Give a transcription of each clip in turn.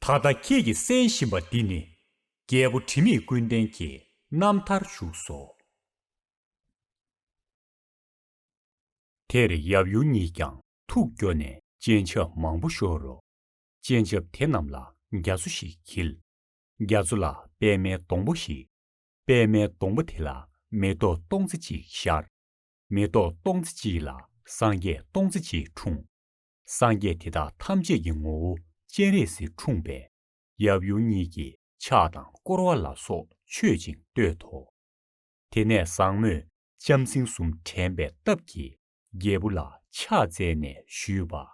ད་ལྟ་ཁྱེད་ཀྱིས་གསན་བཞིན་པ་འདི་ནི། རྒྱལ་པོ་དྲི་མེད་ཀུན་ལྡན་གྱི་རྣམ་ཐར་བཞུགས་སོ། དེར་ཡབ་ཡུམ་གཉིས་ཀྱང་ཐུགས་སྐྱོ་ནས་སྤྱན་ཆབ་མང་པོ་ཤོར་རོ། སྤྱན་ཆབ་དེ་རྣམས་ལ་རྒྱ་མཚོ་ཞིག་འཁྱིལ། རྒྱ་མཚོ་ལ་པདྨའི་སྡོང་པོ་ཞིག། པདྨའི་སྡོང་པོ་དེ་ལ་མེ་ཏོག་སྟོང་རྩི་གཅིག་ཤར། མེ་ཏོག་སྟོང་རྩི་གཅིག་ལ་སངས་རྒྱས་སྟོང་རྩི་གཅིག་འཁྲུངས། སངས་རྒྱས་དེ་དག་ཐམས་ཅད་ཀྱི་ངོ་བོ་སྤྱན་རས་གཟིགས་འཁྲུངས་པས། ཡབ་ཡུམ་གཉིས་ཀྱིས་ཕྱག་དང་བསྐོར་བ་ལ་སོགས་མཆོད་ཅིང་བསྟོད་དོ། དེ་ནས་བཟང་མོས་ལྕམ་སྲིང་གསུམ་དྲན་པའི་སྟབས་ཀྱིས་རྒྱལ་བུ་ལ་ཕྱག་བཙལ་ནས་ཞུས་པ།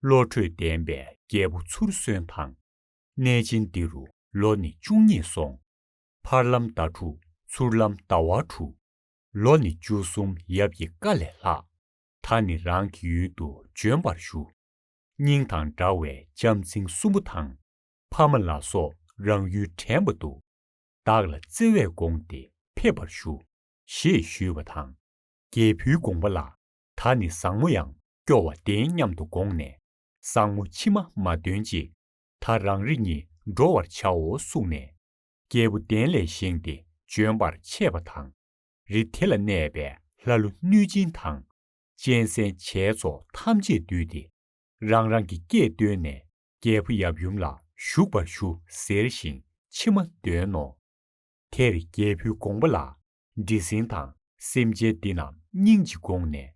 བློ་གྲོས་ལྡན་པའི་རྒྱལ་བུ་ཚུར་གསོན་དང། གནས་ཆེན་འདི་རུ་ལོ་ནི་བཅུ་གཉིས་སོང། ཕར་ལམ་ཟླ་དྲུག་ཚུར་ལམ་ཟླ་བ་དྲུག། ལོ་ནི་བཅུ་གསུམ་ཡབ་ཀྱི་བཀའ་ལས་ལྷགས། ད་ནི་རང་གི་ཡུལ་དུ་འབྱོན་པར་ཞུ། སྙིང་དང་འདྲ་བའི་ལྕམ་ཚིང་གསུམ་པོ་དང། ཕ་མ་ལ་སོགས་རང་ཡུལ་དྲན་པ་འདུག། བདག་ལ་བརྩེ་བས་དགོངས་ཏེ་ཕེབས་པར་ཞུ། ཞེས་ཞུས་པ་དང། རྒྱལ་བུའི་དགོངས་པ་ལ་ད་ནི་བཟང་མོ་ཡང་སྐྱོ་བ་བདེན་སྙམ་དུ་དགོངས་ནས། བཟང་མོ་ཕྱི་མ་མ་འདོན་ཅིག། ད་རང་རེ་གཉིས་འགྲོ་བར་བྱའོ་གསུངས་ནས། རྒྱལ་བུ་གདན་ལས་བཞེངས་ཏེ་འབྱོན་པར་ཆས་པ་དང། རི་དེ་ལ་གནས་པའི་ལྷ་ཀླུ་གནོད་སྦྱིན་དང། གཅན་གཟན་བྱའི་ཚོགས་ཐམས་ཅད་བསྡུས་ཏེ། རང་རང་གི་སྐད་བཏོན་ནས་རྒྱལ་པོ་ཡབ་ཡུམ་ལ་བཞུགས་པར་ཞུ་ཟེར་ཞིང་མཆི་མ་འདོན་ནོ། དེར་རྒྱལ་བུའི་དགོངས་པ་ལ་འདྲེ་སྲིན་དང་སེམས་ཅན་འདི་རྣམས་སྙིང་རྗེ་དགོངས་ནས་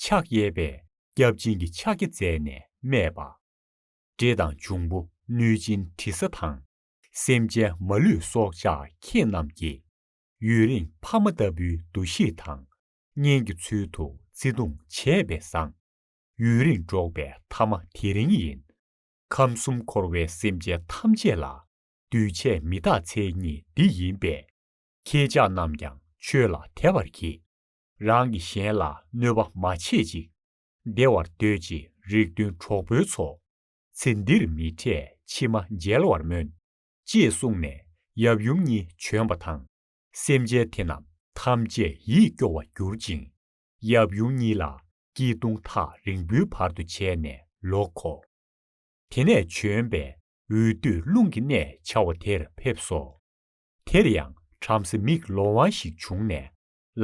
ཕྱག་གཡས་པས་སྐྱབས་སྦྱིན་གྱི་ཕྱག་རྒྱ་མཛད་ནས་སྨྲས་པ། འདྲེ་དང་འབྱུང་པོ་གནོད་སྦྱིན་དྲི་ཟ་དང། སེམས་ཅན་མ་ལུས་སྲོག་ཆགས་ཁྱེད་རྣམས་ཀྱིས། ཡུན་རིང་ཕ་མ་ལྟ་བུའི་འདུ་ཤེས་དང། གཉེན་གྱི་ཚུལ་དུ་བརྩེ་དུང་བྱས་པས་བཟང། ཡུན་རིང་འགྲོགས་པའི་མཐའ་མ་དེ་རིང་ཡིན། ཁམས་གསུམ་འཁོར་བའི་སེམས་ཅན་ཐམས་ཅད་ལ། འདུས་བྱས་མི་རྟག་མཚན་ཉིད་འདི་ཡིན་པས། ཁྱེད་ཅག་རྣམས་ཀྱང་ཆོས་ལ་དད་པར་གྱིས། རང་གིས་གཞན་ལ་གནོད་པ་མ་བྱེད་ཅིག། བདེ་བར་སྡོད་ཅིག་རིགས་མཐུན་གྲོགས་པོའི་ཚོགས། ཚེ་འདིར་མི་འཕྲད་ཕྱི་མ་མཇལ་བར་སྨོན། ཅེས་གསུངས་ནས་ཡབ་ཡུམ་གཉིས་བྱོན་པ་དང། སེམས་ཅན་དེ་རྣམས་ཐམས་ཅད་ཡིད་སྐྱོ་བར་གྱུར་ཅིང། ཡབ་ཡུམ་གཉིས་ལ་སྐྱིལ་ཀྲུང་ཐག་རིང་པོའི་བར་དུ་བྱས་ནས་ལོག་གོ། དེ་ནས་བྱོན་པས་འོད་དུ་རླུང་གི་གནས་བྱ་བ་དེར་ཕེབས་སོ། དེར་ཡང་བྲམ་ཟེ་མིག་ལོང་བ་ཞིག་བྱུང་ནས་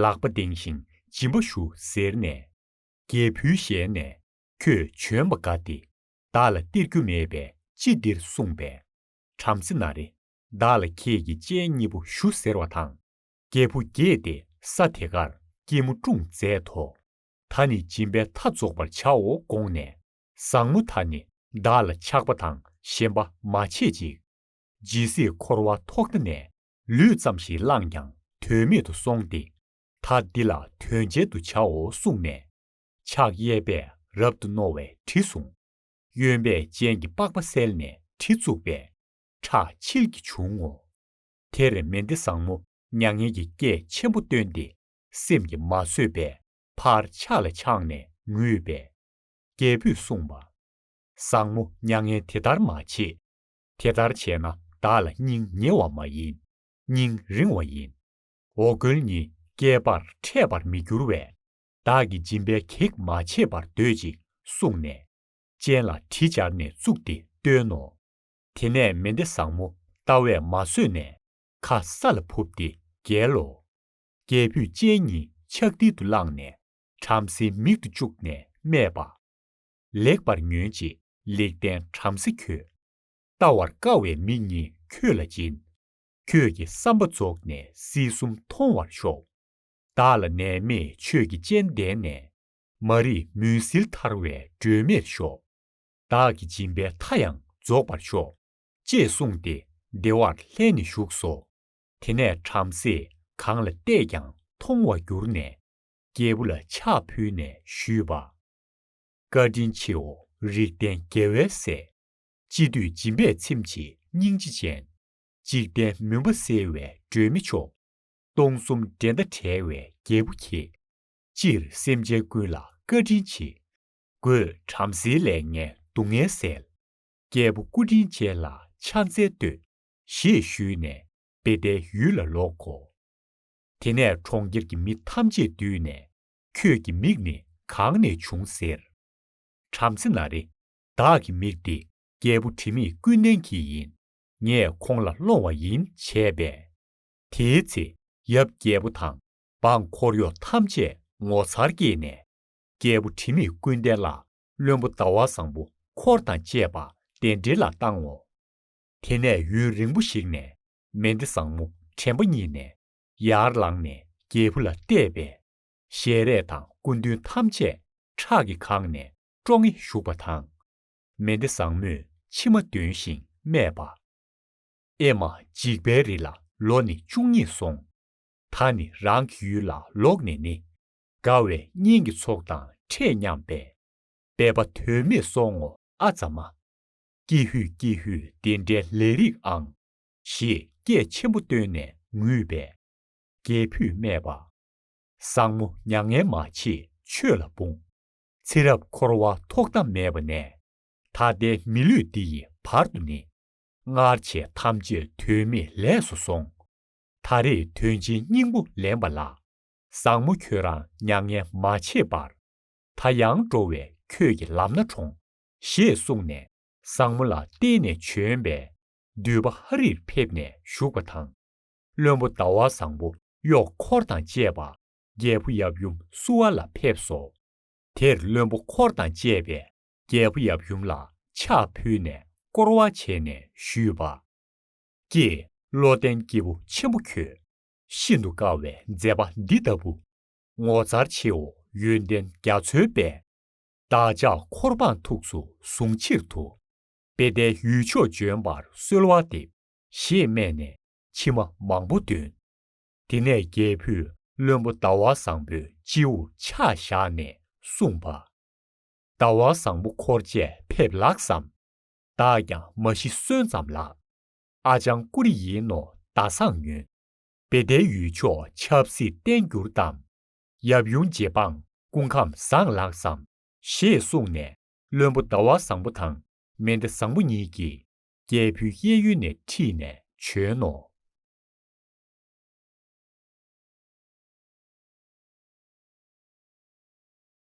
ལག་པ་གདེངས་ཤིང་སྦྱིན་པ་ཞུ་ཟེར་ནས། རྒྱལ་བུའི་ཞལ་ནས་ཁྱོད་བྱོན་པ་དགའ་སྟེ་བདག་ལ་སྟེར་རྒྱུ་མེད་པས་ཅི་འདིར་གསུངས་པས། བྲམ་ཟེ་ན་རེ། བདག་ལ་ཁྱེད་ཀྱི་སྤྱན་གཉིས་པོ་ཞུ་ཟེར་བ་དང། རྒྱལ་བུ་དགྱེས་ཏེ་ས་དེ་ཀར་སྐྱིལ་མོ་ཀྲུང་མཛད་དོ། ད་ནི་སྦྱིན་པའི་མཐའ་རྫོགས་པར་བྱའོ་དགོངས་ནས། བཟང་མོ་ད་ནི་བདག་ལ་ཆགས་པ་དང་ཞེན་པ་མ་བྱེད་ཅིག། ཇི་སྲིད་འཁོར་བ་ཐོག་མཐའ་ནས་ལུས་ཙམ་ཞིག་བླངས་ཀྱང་དོན་མེད་དུ་སོང་སྟེ། ད་འདི་ལ་དོན་གཅལ་དུ་བྱའོ་གསུངས་ནས། ཕྱག་གཡས་པས་རབ་ཏུ་རྣོ་བའི་གྲི་བཟུང། གཡོན་པས་སྤྱན་གྱི་པགས་པ་བསལ་ནས་གྲི་བཙུགས་པས་ཁྲག་མཆིལ་གྱིས་བྱུང་ངོ། དེར་མེ་འདི་བཟང་མོ་མྱ་ངན་གྱི་སྐད་ཆེན་པོ་བཏོན་ཏེ་སེམས་ཀྱིས་མ་བཟོད་པས་ཕར་ཕྱག་ལ་འཆང་ནས་ངུས་པས། རྒྱལ་པོས་གསུངས་པ། བཟང་མོ་མྱ་ངན་དེ་ལྟར་མ་བྱེད། དེ་ལྟར་བྱས་ན་བདག་ལ་སྙིང་ཉེ་བ་མ་ཡིན་སྙིང་རིང་བ་ཡིན། འོ་སྐོལ་ནི་བསྐལ་པར་འཕྲད་པར་མི་འགྱུར་བས། བདག་གི་སྦྱིན་པའི་གེགས་མ་བྱེད་པར་སྡོད་ཅིག་གསུངས་ནས། སྤྱན་ལ་གྲི་སྦྱར་ནས་བཙུགས་ཏེ་བཏོན་ནོ། དེ་ནས་མེ་མདའི་བཟང་མོ་ལྟ་བས་མ་བཟོད་ནས། ཁ་ས་ལ་ཕུབ་སྟེ་བརྒྱལ་ལོ། རྒྱལ་བུས་སྤྱན་གཉིས་ཕྱག་མཐིལ་དུ་བླངས་ནས་བྲམ་ཟེའི་མིག་ཏུ་བཅུག་ནས་སྨྲས་པ། ལེགས་པར་ཉོན་ཅིག་ལེགས་ལྡན་བྲམ་ཟེ་ཁྱོད། བལྟ་བར་དཀའ་བའི་མིག་གཉིས་ཁྱོད་ལ་སྦྱིན། ཁྱོད་ཀྱི་བསམ་པ་རྫོགས་ནས་སྲིད་གསུམ་མཐོང་བར་ཤོག། བདག་ལ་ནད་མེད་ཆོས་ཀྱི་སྤྱན་ལྡན་ནས། མ་རིག་མུན་སེལ་ཐར་བའི་སྒྲོན་མེར་ཤོག། བདག་གི་སྦྱིན་པའི་མཐའ་ཡང་རྫོགས་པར་ཤོག། ཅེས་གསུངས་ཏེ་བདེ་བར་ལྷན་ནེ་བཞུགས་སོ། དེ་ནས་བྲམ་ཟེས་གང་ལ་བལྟས་ཀྱང་མཐོང་བར་གྱུར་ནས། རྒྱལ་བུ་ལ་ཕྱག་ཕུལ་ནས་ཞུས་པ། བཀའ་དྲིན་ཆེའོ་རིགས་ལྡན་རྒྱལ་བའི་སྲས། ཅི་འདོད་སྦྱིན་པས་ཚིམ་བྱེད་སྙིང་རྗེ་ཅན། འཇིག་རྟེན་མུན་པ་སེལ་བའི་སྒྲོན་མེ་མཆོག། སྟོང་གསུམ་འགྲན་ཟླ་བྲལ་བའི་རྒྱལ་པོ་ཁྱེད། སྤྱིར་སེམས་ཅན་ཀུན་ལ་བཀའ་དྲིན་ཆེ། སྒོས་བྲམ་ཟེའི་ལས་ངན་སྡུག་བསྔལ་བསལ། རྒྱལ་པོ་སྐུ་དྲིན་ཅན་ལ་ཕྱག་འཚལ་བསྟོད། ཞེས་ཞུས་ནས་དཔེ་ལྡན་ཡུལ་ལ་ལོག་གོ། དེ་ནས་གྲོང་ཁྱེར་གྱི་མི་ཐམས་ཅད་བསྡུས་ནས། ཁྱོད་ཀྱི་མིག་ནི་གང་ནས་བྱུང་ཟེར། བྲམ་ཟེ་ན་རེ། བདག་གི་མིག་འདི་རྒྱལ་པོ་དྲི་མེད་ཀུན་ལྡན་གྱི་ཡིན། ངས་ཁོང་ལ་སློང་བ་ཡིན་བྱས་པས། དེའི་ཚེ་ཡབ་རྒྱལ་པོ་དང་འབངས་འཁོར་གཡོག་ཐམས་ཅད་ངོ་མཚར་སྐྱེས་ནས། རྒྱལ་པོ་དྲི་མེད་ཀུན་ལྡན་ལ་བློན་པོ་ཟླ་བ་བཟང་པོ་འཁོར་དང་བཅས་པ་གདན་འདྲེན་ལ་བཏང་ངོ། དེ་ནས་ཡུན་རིང་པོ་ཞིག་ནས་མེ་མདའི་བཟང་མོ་དྲན་པ་རྙེད་ནས་ཡར་ལངས་ནས་རྒྱལ་བུ་ལ་གཏད་པས། ཞལ་རས་དང་སྐུ་མདུན་ཐམས་ཅད་ཁྲག་གིས་གང་ནས་སྤྲོ་ངེ་བཞུགས་པ་དང། མེ་མདའི་བཟང་མོས་མཆི་མ་འདོན་ཞིང་སྨྲས་པ། ཨེ་མ་འཇིགས་པའི་རི་ལ་ལོ་ནི་བཅུ་གཉིས་སོང། ད་ནི་རང་གི་ཡུལ་ལ་ལོག་ནས་ནི། དགའ་བའི་གཉེན་གྱི་ཚོགས་དང་འཕྲད་སྙམ་པས། སྦས་པ་དོན་མེད་སོང་ངོ་ཨ་ཙཱ་མ། ཀྱེ་ཧུད་ཀྱེ་ཧུད་དེ་འདྲའི་ལས་རིགས་ཨང། ཞེས་སྐད་ཆེན་པོ་བཏོན་ནས་ངུས་པས། རྒྱལ་བུས་སྨྲས་པ། བཟང་མོ་མྱ་ངན་མ་བྱེད་ཆོས་ལ་འབུངས། ཚེ་རབས་འཁོར་བ་ཐོག་མཐའ་མེད་པ་ནས། ད་ལྟའི་མི་ལུས་འདི་ཡི་བར་དུ་ནི། སྔར་བྱས་ཐམས་ཅད་དོན་མེད་ལས་སུ་སོང། ད་རེས་དོན་ཆེན་སྙིང་པོ་ལེན་པ་ལ། བཟང་མོ་ཁྱོད་རང་མྱ་ངན་མ་བྱེད་པར། ད་ཡང་འགྲོ་བའི་ཁྱོད་ཀྱི་ལམ་སྣ་དྲོངས། ཞེས་གསུངས་ནས་བཟང་མོ་ལ་བསྟན་ནས་བྱོན་པས་འདུས་པ་ཧ་རིར་ཕེབས་ནས་བཞུགས་པ་དང། བློན་པོ་ཟླ་བ་བཟང་པོ་གཡོག་འཁོར་དང་བཅས་པ་རྒྱལ་པོ་ཡབ་ཡུམ་བསུ་བ་ལ་ཕེབས་སོ། དེར་བློན་པོ་འཁོར་དང་བཅས་པས་རྒྱལ་པོ་ཡབ་ཡུམ་ལ་ཕྱག་ཕུལ་ནས་བསྐོར་བ་བྱས་ནས་ཞུས་པ། ཀྱེ། བློ་ལྡན་སྐྱེས་བུ་ཆེན་པོ་ཁྱོད། ཤིན་ཏུ་དཀའ་བའི་མཛད་པ་འདི་ལྟ་བུ། ངོ་མཚར་ཆེའོ་ཡོན་ཏན་རྒྱ་མཚོའི་དཔལ། བདག་ཅག་འཁོར་འབངས་ཐུགས་སུ་བཟུང་ཕྱིར་དུ། དཔེ་ལྡན་ཡུལ་ཕྱོགས་འབྱོན་པར་གསོལ་བ་འདེབས། ཞེས་སྨྲས་ནས་མཆི་མ་མང་པོ་འདོན། དེ་ནས་རྒྱལ་བུས་བློན་པོ་ཟླ་བ་བཟང་པོའི་སྤྱི་བོར་ཕྱག་བཞག་ནས་གསུངས་པ། ཟླ་བ་བཟང་པོ་འཁོར་བཅས་ཕེབས་ལགས་སམ། བདག་ཀྱང་མ་གཞི་གསོན་ཙམ་ལགས། ཨ་ཅང་ཀུ་རེ་ཡིན་ནོ་ཟླ་བཟང་ཉོན། དཔེ་ལྡན་ཡུལ་ཕྱོགས་ཆབ་སྲིད་བརྟན་འགྱུར་གཏམ། ཡབ་ཡུམ་རྗེ་འབངས་སྐུ་ཁམས་བཟང་ལགས་སམ། ཞེས་གསུངས་ནས་བློན་པོ་ཟླ་བ་བཟང་པོ་དང་མེ་མདའ་བཟང་པོ་གཉིས་ཀྱིས་རྒྱལ་བུའི་གཡས་གཡོན་ནས་ཁྲིད་ནས་བྱོན་ནོ།